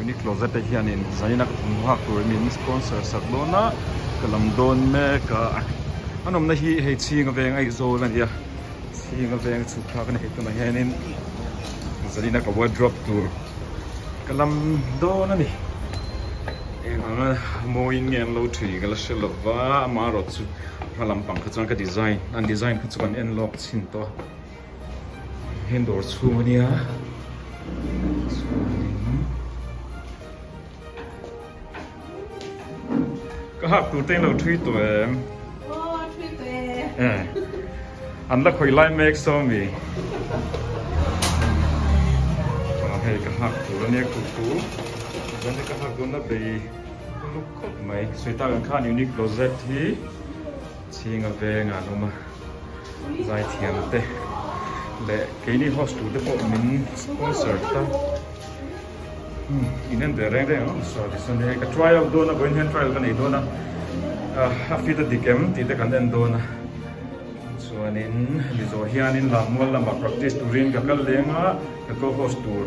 Uni closet ah hian in zaina ka thawmhnaw hak tur min sponsor sak dawn a ka lam dawn mek a an awmna hi hei chhing aveng aizawl a nia chhing aveng chhuk kha ka ni thei tunah hian in zaina ka wardrobe tur ka lam dawn a ni engmah mawiin nge an lo thin ka la hre lova amaherawhchu-- Hma lampang kha chuan ka design an design kha chu kan en lawk chhin tawh a. Heng dawr chhung a nia. Ka hak tur tein lo thui tawh em. Aw thui tawh e. Eh an la khawih lai mek sawmi. Aw hei ka hak tur a nia kut tur. Ka hak dawn a bei. Khawp mai. Sweater-ah khan Uniqlo Z hi chhinga vengah an awm a, zai thiam te leh keini host tur te pawh min sponsor ta. Hmm, inan ve reng reng ang a saw tisawn ni hei. Ka try out dawn a, vawiin hian trial ka nei dawn a. A fit a dik em tih te kan en dawn a. Tichuanin Mizo hianin Lammual lamah practice turin ka kal leng a, ka co-host tur.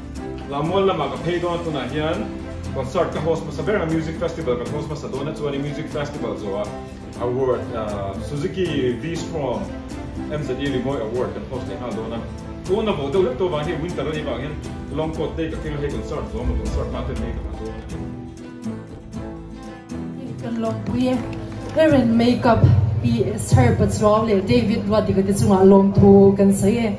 Lam mual lamah ka phei dawn a tunah hian concert ka host hmasa ber a music festival kan host hmasa dawn a chuan in music festival zawha award suzuki v-strom MZE rimawi award kan host leh nghal dawn a pawn a vawh deuh hlek tawh vang hei winter a nih vang hian long coat te i ka keng a hei concert zawha maw concert hma te an nei ta hnah dawn a ni. Kan lawmpui e, Eren makeup i Sir Pachuau leh David Luatika te chungah lawmthu kan sawi e.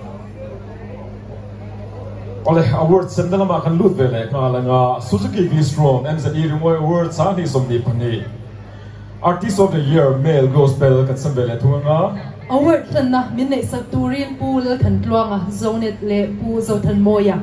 Awle, Award semna lamah kan lut ve leh nghal anga Suzuki V-Strom MZE Ringawih Award sa hnih sawm ni pahnih Artist of the Year Male Gospel kan sem ve leh thung anga. Award hlanna min neihsak turin Pu Lalthantluanga, Zonet, leh Pu Zothanmawia,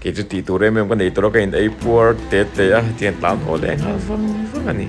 kei chu tih tur em em ka nei tur a ka in ei puar teh teh a tian tlan haw leh nghal vang vang a ni.